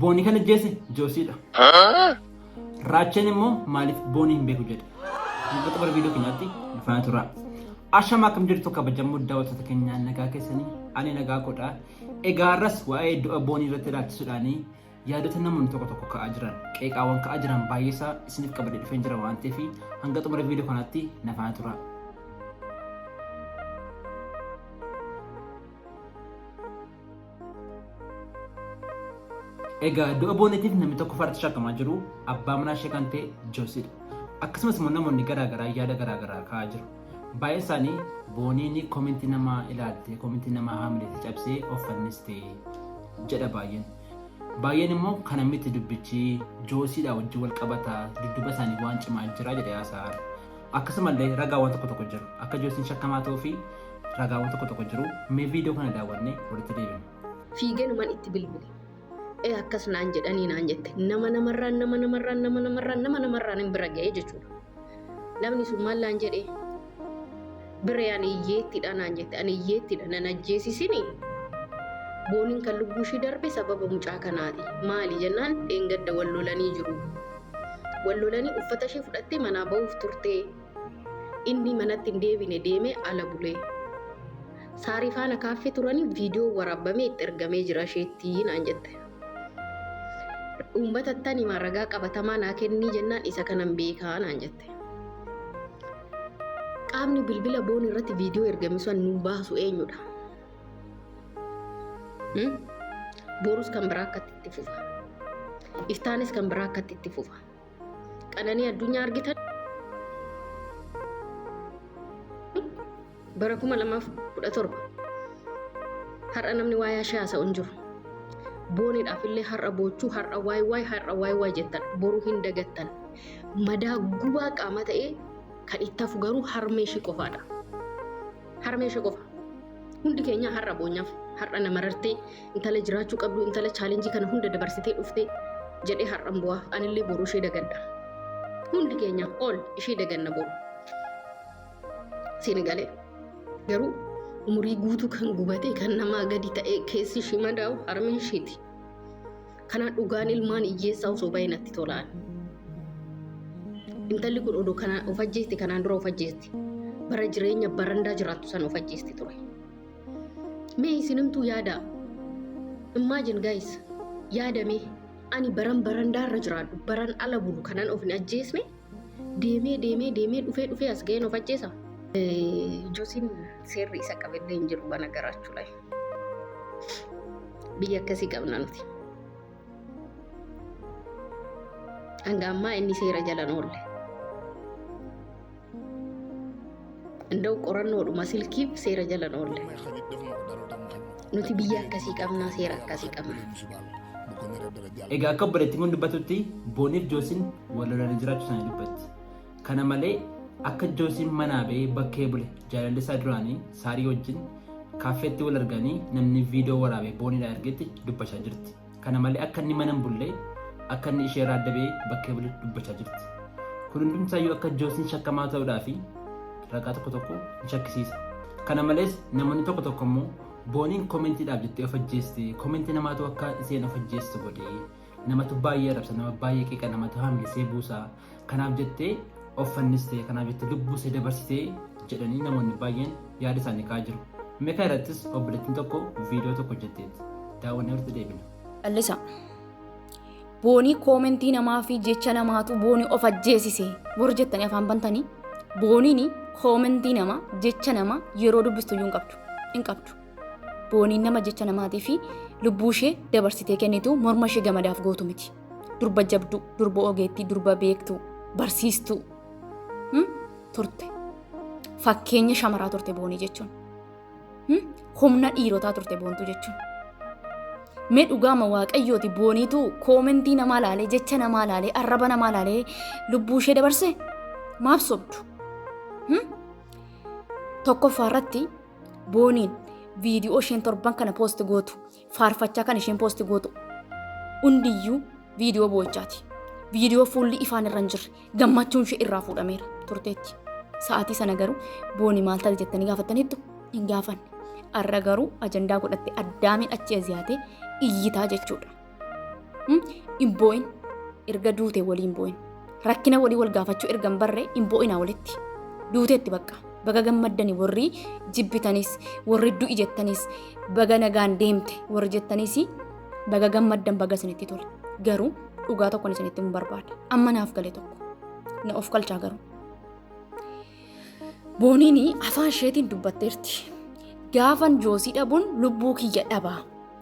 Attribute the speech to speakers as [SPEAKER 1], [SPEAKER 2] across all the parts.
[SPEAKER 1] Booni kan ajjeese Joosiidha. Raacheen immoo maaliif booni hin beeku jedhe. Mul'ata bara viidiyoo keenyaatti nu faana tura. Ashama akkam jirtu kabajamoo daawwattoota keenyaa nagaa keessanii ani nagaa godha. Egaa har'as waa'ee du'a boonii irratti ilaalchisuudhaan yaadota namoonni tokko tokko ka'aa jiran qeeqaawwan ka'aa jiran baay'eesaa isiniif qabadee dhufeen jira waan ta'eef hanga xumura viidiyoo kanaatti na faana tura. Egaa du'a booniitiif namni tokko farratti shakkamaa jiru abbaa manaa ishee kan ta'e Joosidha. Akkasumas immoo namoonni garaagaraa yaada garaagaraa kaa'aa jiru. Baay'een isaanii booniin kominti namaa ilaaltee kominti namaa haamileetti cabsee of fannistee jedha baay'een. Baay'een immoo kana miti dubbichi Joosiidha wajjin wal qabata dudduba isaanii waan cimaa jira jedhee haasa'aa. Akkasumallee ragaawwan tokko tokko jiru. Akka Joosiin shakkamaa ta'uu fi ragaawwan tokko tokko jiru. Mee viidiyoo kana daawwannee walitti deebina. Fiiganuman itti
[SPEAKER 2] bilbile. Ee akkas naan jedhanii naan jette. Nama namarraan nama namarraan nama namarraan nama namarraan hin bira ga'ee jechuudha. Namni sun maal naan jedhee? Biree ani hiyyeettiidha naan jette ani hiyyeettiidha nan ajjeesisini booniin kan lubbuu ishii darbe sababa mucaa kanaati maali jennaan dheengadda wal lolanii jiru wal lolanii uffata ishee fudhattee manaa ba'uuf turtee inni manatti hin deebine deemee ala bulee saarii faana kaaffee turanii viidiyoo waraabamee itti ergamee jira isheetti naan jette. Uummatattan himaa ragaa qabatamaa naa kennii jennaan isa kanan beekaa naan jette. Qaamni bilbila boon irratti viidiyoo ergame sun nuu baasu eenyudha? Borus kan biraa akkatti itti fufa. Iftaanis kan biraa akkatti itti fufa. Qananii addunyaa argitan bara 2017 har'a namni waa'ee ishee haasa'u hin jiru. Booniidhaaf illee har'a boochuu har'a waay waay har'a waay waay jettan boruu hin dagattan. Madaa gubaa qaama ta'ee kan itti hafu garuu harmee ishee qofaadha. Harmee ishee qofa. Hundi keenya har'a boonyaaf har'a namarartee Intala jiraachuu qabdu intala chaalenjii kana hunda dabarsitee dhufte jedhee har'an bu'aa anillee boru ishee dagadha. Hundi keenya ol ishee daganna boru. Siin galee garuu umurii guutuu kan gubatee kan namaa gadi ta'ee keessi ishii madaa'u harmeen ishiiti. Kanaa dhugaan ilmaan hiyyeessaa osoo baay'ee natti tolaan. Intalli kun odoo kanaan of ajjeesti kanaan dura of ajjeesti. Bara jireenya barandaa jiraattu sana of ajjeesti ture. Mee isinumtuu yaadaa. Imagine guys, yaadamee ani baran barandaarra jiraadhu, baran ala bulu kanan of hin ajjeesne deemee deemee deemee dhufee dhufee as ga'een of ajjeesa. Josiin seerri isa qabellee hin jiru bana garaachuu layi. Biyya akkasii qabna nuti. hanga ammaa inni seera jala hin oolle. Inda'u qorannoodhuma silkiif seera jala hin oolle. Nuti biyya akkasii qabnaa seera akkasii qabna.
[SPEAKER 1] Egaa akka obboleettiin kun dubbatutti Booniif Joosiin wal lolanii jiraachuu isaanii dubbatti. Kana malee akka Joosiin manaa ba'ee bakkee bule jaalalli isaa duraanii Saarii wajjin kaaffeetti wal arganii namni viidiyoo waraabee booniidhaa ergetti dubbachaa jirti. Kana malee akka inni mana hin bulle akka inni ishee irraa adda ba'ee bakkee bule dubbachaa jirti. Kun hundumsaayyuu akka Joosiin shakkamaa ta'uudhaa fi ragaa tokko tokko ni shakkisiisa. Kana malees namoonni tokko tokko immoo booniin koomentiidhaaf jettee of ajjeeste koomentii namaatu akka isheen of ajjeestu godhe Namatu baay'ee arrabsa, nama baay'ee qeeqa, namatu haamilsee buusa. Kanaaf jettee of fannistee, kanaaf jettee lubbuu see dabarsitee jedhanii namoonni baay'een yaada isaanii ka'aa jiru. Meeqa irrattis obboleettiin tokko viidiyoo tokko hojjetteetti. Daawwannee walitti deebina. Callisa.
[SPEAKER 3] Boonii koomentii namaa fi jecha namaatu boonii of ajjeesise warri jettanii afaan bantanii booniin koomentii namaa jecha namaa yeroo dubbistu iyyuu hin qabdu. Hin qabdu. Booniin nama jecha namaatii fi lubbuu ishee dabarsitee kennitu morma ishee gamadaaf gootu miti. Durba jabduu, durba ogeettii, durba beektuu, barsiistuu hmm? turte. Fakkeenya shamaraa turte boonii jechuun. Hmm? Humna dhiirotaa turte boontuu jechuun. Mee dhugaama waaqayyooti booniitu koomentii namaa laalee, jecha namaa laalee, arraba namaa laalee lubbuu ishee dabarse maaf sobdu? Hmm? Tokkoffaa irratti Booniin viidiyoo isheen torban kana poosti gootu faarfachaa kan isheen poosti gootu hundiyyuu viidiyoo boochaati. Viidiyoo fuulli ifaan irra hin jirre gammachuun ishee irraa fuudhameera turteetti. Sa'aatii sana garuu booni maal taate jettanii gaafattaniittu hin gaafanne. Har'a garuu ajandaa godhatte addaamiin achi aziyaatee iyyitaa jechuudha. hin boo'in erga duute waliin boo'in rakkina walii wal gaafachuu erga hin barre hin boo'inaa walitti duuteetti bakka baga gammaddani warri jibbitanis warri du'i jettanis baga nagaan deemte warri jettanis baga gammaddan baga isinitti tole garuu dhugaa tokkon isinitti hin barbaada amma naaf gale tokko na of kalchaa garuu booniin afaan isheetiin dubbatteerti gaafan joosii dhabuun lubbuu kiyya dhabaa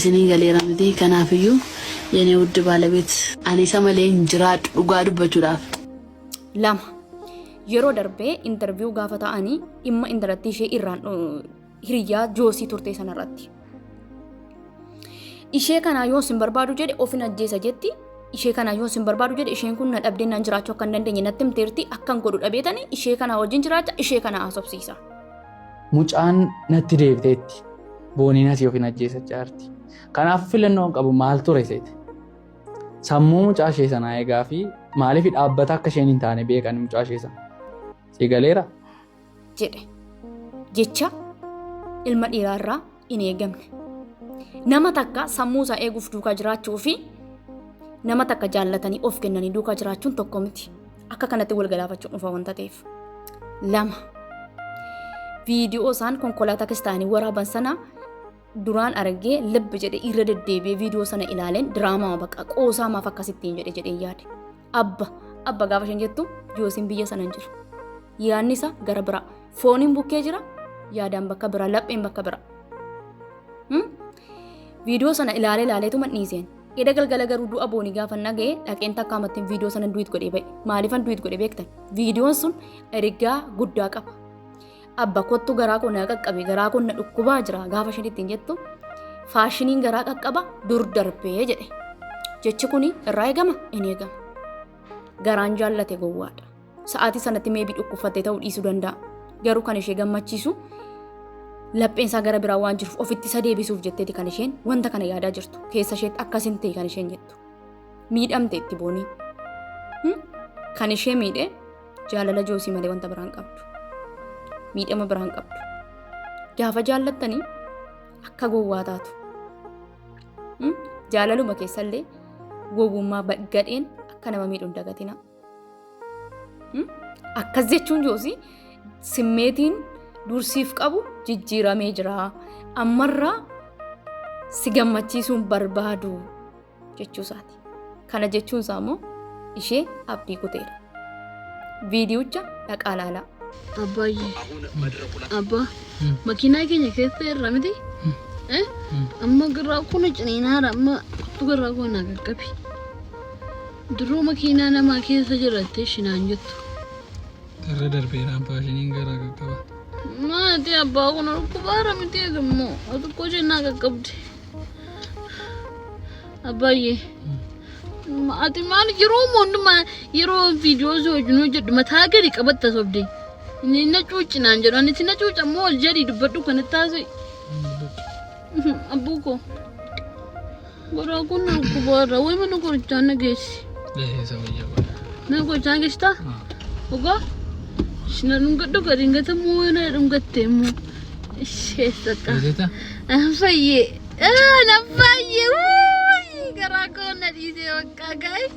[SPEAKER 4] isinii galeera miti kanaafiyyuu yene wudd baalabeet. Ani isa malee hin jiraadhu dhugaa dubbachuudhaaf. 2.
[SPEAKER 3] Yeroo darbee interview gaafa ta'ani dhimma intalattii ishee irraan hiriyyaa joosii turtee sanarratti. Ishee kanaa yoo sin barbaadu jedhe ofin ajjeesa jetti. Ishee kanaa yoo sin barbaadu jedhe isheen kun na dhabdee naan jiraachuu akka hin dandeenye natti himteerti akkan godhu dhabeetani ishee kanaa wajjin jiraacha ishee kanaa haasofsiisa. Mucaan
[SPEAKER 5] natti deebiteetti boonii nasi ofiin ajjeesachaa jirti. Kanaaf filannoon qabu maal ture seete? Sammuu mucaa ishee sanaa eegaa fi maaliif dhaabbata akka isheen hin taane beekan mucaa ishee sana. Si galeera? jedhe
[SPEAKER 3] jecha ilma dhiiraarraa hin eegamne. Nama takka sammuu isaa eeguuf duukaa jiraachuu fi nama takka jaallatanii of kennanii duukaa jiraachuun tokko miti. Akka kanatti wal galaafachuun dhufa wanta ta'eef. Lama. Viidiyoo isaan konkolaataa kiristaanii waraaban sana duraan argee lib jedhe irra deddeebi'ee viidiyoo sana ilaaleen diraamaa baqa qoosaa maaf akkasittiin jedhe jedhee yaade. Abba, abba gaafa isheen jettu Joosiin biyya sana hin jiru. Yaadni isaa gara biraa. Fooniin bukkee jira, yaadaan bakka biraa, lapheen bakka biraa. Hmm? Viidiyoo sana ilaalee ilaaleetu madhiiseen. Eda galgala garuu du'a boonii gaafa naga'e dhaqeen takka amattiin viidiyoo sana duwit godhee ba'e. Maaliifan duwit godhee beektan? Viidiyoon sun ergaa guddaa qaba. abba kottu garaa koo na qaqqabe garaa koo na dhukkubaa jira gaafa isheen ittiin jettu faashiniin garaa qaqqaba dur darbee jedhe jechi kun irraa eegama hin eegama garaan jaallate gowwaadha sa'aatii sanatti meebii dhukkubfattee ta'uu dhiisuu danda'a garuu kan ishee gammachiisu lapheen isaa gara biraa waan jiruuf ofitti isa deebisuuf jetteeti kan isheen wanta kana yaadaa jirtu keessa isheetti akkasin ta'e kan isheen jettu miidhamte itti boonii kan ishee miidhe Jaalala joosii malee wanta biraan qabdu. Miidhama biraan qabdu. Gaafa jaallattanii akka gowwaa taatu. Mm? Jaalaluma keessallee gowwummaa ba- gadheen akka nama miidhu hin dagatina. Mm? Akkas jechuun joosii simmeetiin dursiif qabu jijjiiramee jira. Ammarraa si gammachiisuun barbaadu. jechuu isaati. Kana jechuun isaa immoo ishee abdii kuteera. Viidiyicha dhaqaa laalaa. Abbaayye.
[SPEAKER 2] Abbaa. Makiinaa keenya keessa irra miti. Eh? Amma garraa kun ciniinaara amma kottu garraa kun naa qaqqabi. Duruu makiinaa namaa keessa jirattee shinaan jettu. Irra
[SPEAKER 5] darbeera abbaa isheen garaa qaqqaba. Maati
[SPEAKER 2] abbaa kun dhukkubaara miti eegammoo. Xiqqoo isheen naa qaqqabdi. Abbaayye. Ati maal yeroo hundumaa yeroo viidiyoo osoo hojjennuu jedhu mataa gadi qabatta sobde. Inni na cuuci naan jedhu ani si na cuuca immoo ol jedhi dubbadhu kan itti haasa'e. Abbuu koo. Garaa kun na dhukkubaarra wayi mana qorichaa na geessi. Deeseessa
[SPEAKER 5] wayyaa godha. Mana qorichaa geessitaa?
[SPEAKER 2] Dhugaa? Ishina dhungadhu gadi hin gatamu yoo na dhungatte immoo. Beeksisa?
[SPEAKER 5] Fayyee.
[SPEAKER 2] Na fayyee. Wuuyi garaa koo na dhiisee bakka guys.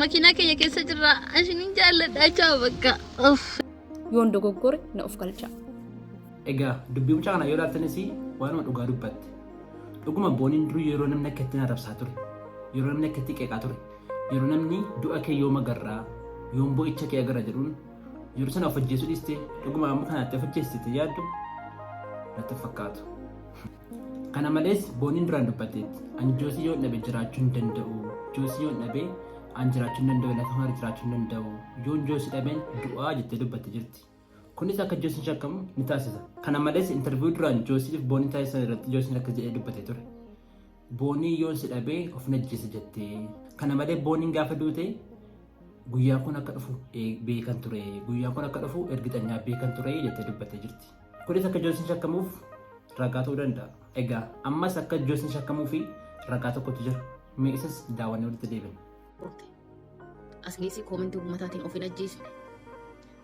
[SPEAKER 2] Makiinaa keenya keessa jirra. Ashiniin jaalladha jaa bakka. Of. yoon
[SPEAKER 3] dogoggore na of galcha. Egaa
[SPEAKER 1] dubbii mucaa kana yoo ilaaltanis waanuma dhugaa dubbatte. Dhuguma booniin durii yeroo namni akka ittiin arrabsaa ture, yeroo namni akka ittiin qeeqaa ture, yeroo namni du'a kee yoom agarraa, yoom boo'icha kee agarra jedhuun Yeroo sana of ajjeesuu dhiistee dhuguma amma kanaatti of ajjeessite yaaddu natti hin fakkaatu. Kana malees booniin duraan dubbatteetti ani joosii yoon dhabe jiraachuu hin danda'u joosii yoon dhabe an jiraachuu hin danda'u lafa mara jiraachuu hin danda'u yoon joosii dhabeen du'aa jettee dubbatte jirti. Kunis akka joosiin shakkamu ni taasisa. Kana malees intarviiyuu duraan joosiif boonii taasisan irratti joosiin akka jedhee dubbatee ture. Booniin yoon si dhabee of najjeessa jettee. Kana malee booniin gaafa duute guyyaa kun akka dhufu beekan ture. Guyyaa kun akka dhufu ergitanyaa beekan ture jettee dubbattee jirti. Kunis akka Joosiin shakkamuuf ragaa ta'uu danda'a. Egaa ammas akka Joosiin shakkamuu fi ragaa tokkotu jira. Mee isas daawwannee walitti deebina.
[SPEAKER 2] Asinis koomentii uummataatiin of hin ajjeesine.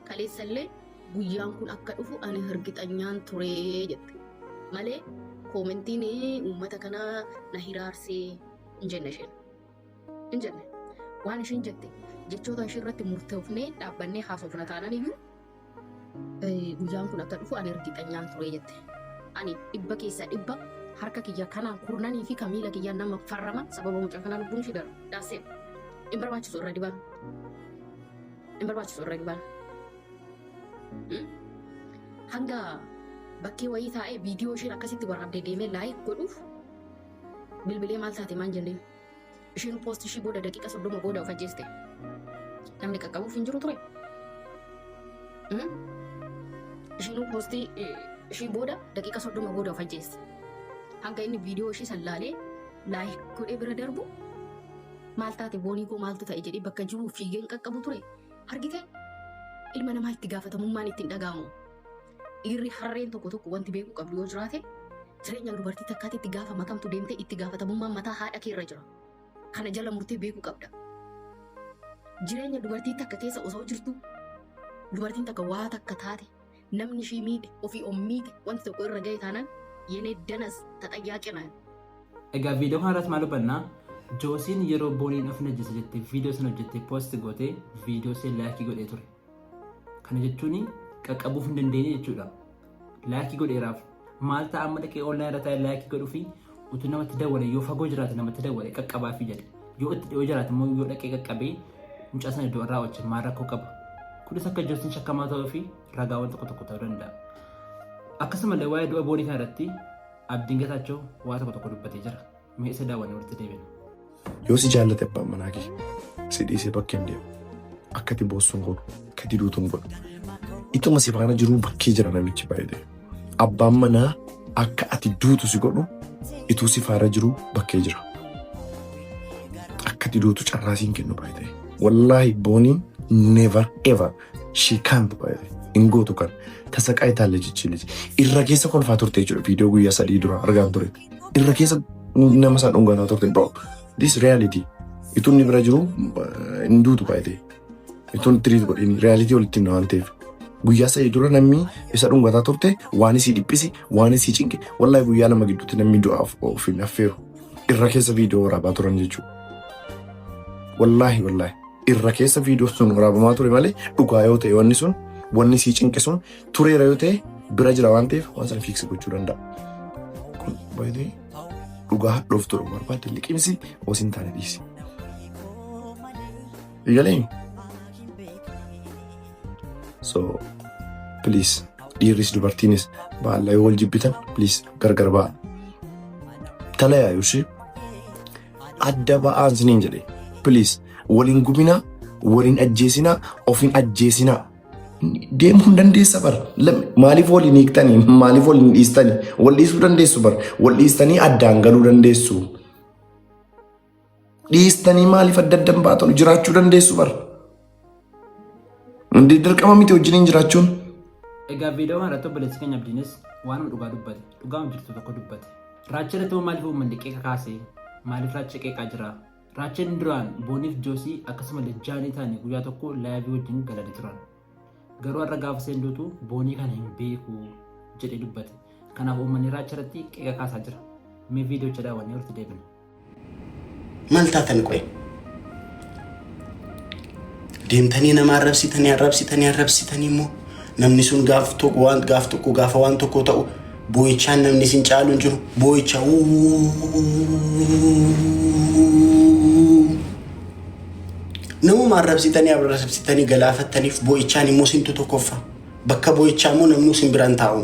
[SPEAKER 2] Kaleessallee guyyaan kun akka dhufu ani hirgixanyaan ture jette. Malee koomentiin uummata kana na hiraarsee hin jenne isheen. Hin jenne. Waan isheen jette jechoota ishee irratti murtoofnee dhaabbannee haasofna taanan iyyuu eh, guyyaan kun akka dhufu ani hirgixanyaan ture jette. Ani dhibba keessaa dhibba harka kiyya kanaan kurnanii fi kan miila kiyyaa nama farrama sababa mucaa kanaa lubbuun ishee darbe. Daaseen. Hin barbaachisu irra dibaan. hin barbaachisu irra gibaan. Hanga bakkee wayii taa'ee viidiyoo isheen akkasitti waraabdee deemee laayik godhuuf bilbilee maal taate maan jenneen. Isheen poost ishii booda daqiiqa soddoma booda of ajjeeste. Namni qaqqabuuf hin jiru ture. Isheen poostii ishii booda daqiiqa soddoma booda of ajjeeste. Hanga inni viidiyoo ishii sallaalee laayik godhee bira darbu Maal taate boonii koo maaltu ta'e jedhee bakka jiru fiigeen qaqqabu ture. Argite ilma namaa itti gaafatamummaan ittiin dhaga'amu. Dhiirri harreen tokko tokko wanti beekuu qabdu yoo jiraate jireenya dubartii takkaatti itti gaafama kamtu deemtee itti gaafatamummaan mataa haadha kee irra jira. Kana jala murtee beekuu qabda. Jireenya dubartii takka keessa osoo jirtu dubartiin takka waa takka taate Namni ishii miidhe, ofii of miidhe, wanti tokko irra gahe taanaan yenee danas taxayyaaqi naati. Egaa
[SPEAKER 1] viidiyoo kana irratti maal hubanna? Joosiin yeroo booniin of najjese jette viidiyoo sana hojjette poosti goote viidiyoo ishee laayikii godhee ture. Kana jechuun qaqqabuuf hin dandeenye jechuudha. Laayikii godheeraaf Maal ta'a amma dhaqee online irra taa'ee laayikii godhuu fi utuu namatti dawwale yoo fagoo jiraate namatti dawwale qaqqabaa fi jedhe yoo itti dhiyoo jiraate immoo yoo dhaqee qaqqabee mucaa sana iddoo irraa wajjin maal rakkoo qaba. Kunis akka jirtiin shakkamaa ta'uu fi ragaawwan tokko tokko ta'uu danda'a. Akkasumallee waa'ee du'a boorii kanarratti abdiin gataachoo waa tokko tokko dubbatee jira. Mee isa daawwanne walitti deebina. Yoo si jaallate
[SPEAKER 6] abbaan manaa kee si dhiisee bakkee hin deemu. Akka itti boossuun godhu, akka itti duutuun godhu. Ituma si faana jiruu bakkee jira namichi baay'ee. Abbaan manaa akka ati duutu si godhu ituu si faana jiruu bakkee jira. Akka itti duutu carraa siin kennu baay'ee. Wallaahi booniin never ever she can't baay'ee. Hin gootu kan tasaqaa itaalle jechiinis. Irra keessa kolfaa turte jechuudha viidiyoo guyyaa sadii dura argaan ture. irra keessa nama isaa dhungataa turte bro this reality itun ni bira jiru hin duutu baay'ee itun tiriit godhin reality walitti hin waan ta'eef guyyaa sadii dura namni isa dhungataa turte waan isii dhiphisi waan isii cinqe wallahi guyyaa lama gidduutti namni du'aaf of hin affeeru irra keessa viidiyoo waraabaa turan jechuudha wallahi wallahi irra keessa viidiyoo sun waraabamaa ture malee dhugaa yoo ta'e wanni sun wanni isii cinqe sun tureera yoo ta'e bira jira waan ta'eef waan sana fiiksi gochuu danda'a. Kun baay'ee dhugaa hadhoof turu barbaadde liqimsi osoo hin taane dhiisi. Eegalee? So please dhiirris dubartiinis baala yoo wal jibbitan please gargar ba'a. Talayaa yoo ishee adda ba'aan siniin jedhe please waliin gubinaa waliin ajjeesinaa ofiin ajjeesinaa. Deemuu hin dandeessa bar. Lam- Maaliif wal hin hiiktanii? Maaliif wal hin dhiistanii? Wal dhiisuu dandeessu bar. Wal dhiistanii addaan galuu dandeessu. Dhiistanii maaliif adda adda hin baatanu? Jiraachuu dandeessu bar. Hundi dirqama miti wajjiniin jiraachuun. Egaa
[SPEAKER 1] viidiyoo kana irratti obboleessi keenya Abdiinis waanuma dhugaa dubbate, dhugaama jirtu tokko dubbate. Raacha irratti immoo maaliif uummanni qeeqa kaase? Maaliif raacha qeeqaa jira? Raachel duraan Booniif Joosii akkasumallee Jaanii taanii guyyaa tokko laayivii wajjin galanii turan. Garuu har'a gaafa isheen duutu Boonii kana hin beeku jedhee dubbate. Kanaaf uummanni Raachel irratti qeeqa kaasaa jira. Mee viidiyocha daawwannee walitti deebina.
[SPEAKER 7] Maal taatan qoye? Deemtanii nama arrabsitanii arrabsitanii arrabsitanii immoo namni sun gaaf tokko waan gaaf tokko gaafa waan tokko ta'u boo'ichaan namni isin caalu hin jiru boo'icha namuma arrabsitanii arrabsitanii galaafattaniif boo'ichaan immoo sintu tokkoffa bakka boo'ichaa immoo namni isin biraan taa'u.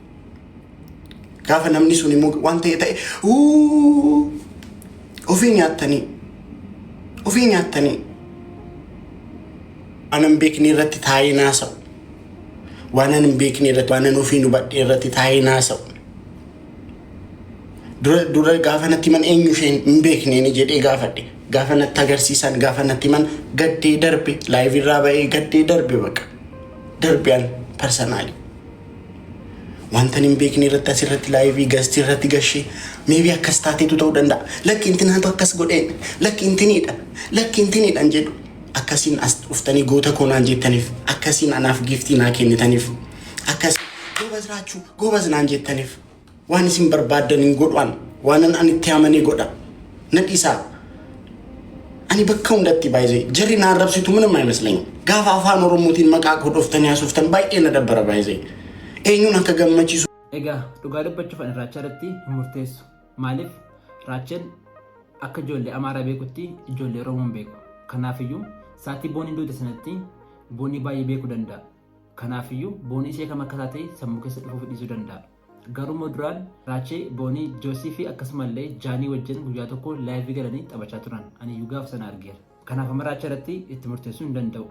[SPEAKER 7] Gaafa namni sun immoo waan ta'e ta'e "Uu, ofii nyaattanii ofii nyaattanii waan hin beekne irratti taa'ee naasa'u. Waan hin beekne irratti waan ofii hubadhe irratti taa'ee naasa'u. Dura dura gaafa natti himan eenyu isheen hin beekne ni jedhee gaafadhe. Gaafa natti agarsiisan gaafa natti himan gaddee darbe laayivii irraa ba'ee gaddee darbe baqa. Darbe an parsanaalii. Wantan hin beekne irratti asirratti laayivii gastii irratti gashee meebii akkas taateetu ta'uu danda'a. Lakki intinaatu akkas godhee lakki intiniidha lakki intiniidhaan jedhu akkasiin as dhuftanii goota koo naan jettaniif akkasiin anaaf giiftii naa kennitaniif akkas goobaz raachuu goobaz naan jettaniif Waan isin barbaaddan hin godhuan, waanan ani itti amane godha. Na dhisaa. Ani bakka hundatti baay'ee jarri na arrabsitu minuma imeslany. Gaafa afaan Oromootiin maqaa koo dhoftanii haasoftan baay'ee na dabbara baay'ee. Eenyuun akka gammachiisu Egaa dhugaa
[SPEAKER 1] dubbachuuf ani raachaa irratti hin murteessu. Maaliif raacheen akka ijoollee amaaraa beekutti ijoollee Oromoo hin beeku. Kanaafiyyuu saatii booniin duute sanatti boonii baay'ee beekuu danda'a. Kanaafiyyuu boonii ishee kam akka taate sammuu keessa dhufuuf dhiisuu danda'a. Garuu immoo duraan Raachee, Boonii, Joosii fi akkasumallee Jaanii wajjin guyyaa tokko laayivii galanii taphachaa turan. Aniyyuu gaafa sana argeera. Kanaaf amma Raachee irratti itti murteessuu hin danda'u.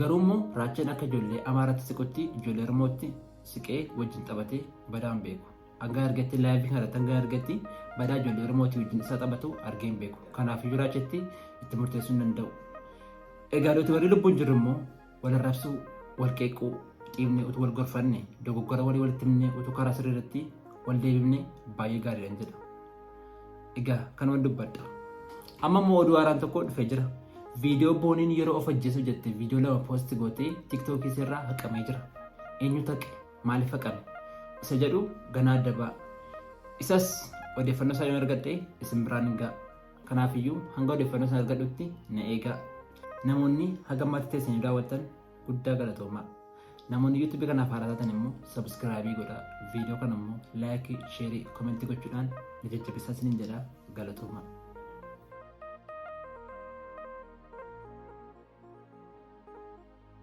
[SPEAKER 1] Garuu immoo Raacheen akka ijoollee Amaaratti siqutti ijoollee Oromootti siqee wajjin taphatee badaa hin beeku. Hanga argetti laayivii kana irratti hanga argetti badaa ijoollee Oromootii wajjin isaa taphatu argee hin beeku. Kanaafiyyuu Raacheetti itti murteessuu hin danda'u. Egaa nuti warri lubbuun jirru immoo Wal arrabsuu, wal qeequu, dhiibnee utuu wal gorfanne, dogoggora walii walitti himnee utuu karaa sirrii irratti wal deebifne baay'ee gaariidhaan jedha. Egaa kanuman dubbadha. Amma immoo oduu haaraan tokko dhufee jira. Viidiyoo booniin yeroo of ajjeesu jette viidiyoo lama poosti gootee tiktookii irraa haqamee jira. Eenyu taqe? Maaliif haqame? Isa jedhu ganaa adda ba'a. Isas odeeffannoo isaa yoo argadhe isin biraan hin ga'a. Kanaafiyyuu hanga odeeffannoo isaa argadhutti na eegaa. Namoonni haga ammaatti teessanii daawwattan guddaa galatoomaa. Namoonni YouTube kanaaf haaraa taatan immoo subscribe godhaa. Viidiyoo kana immoo like, share, comment gochuudhaan na jajjabeessaa isiniin jedha galatoomaa.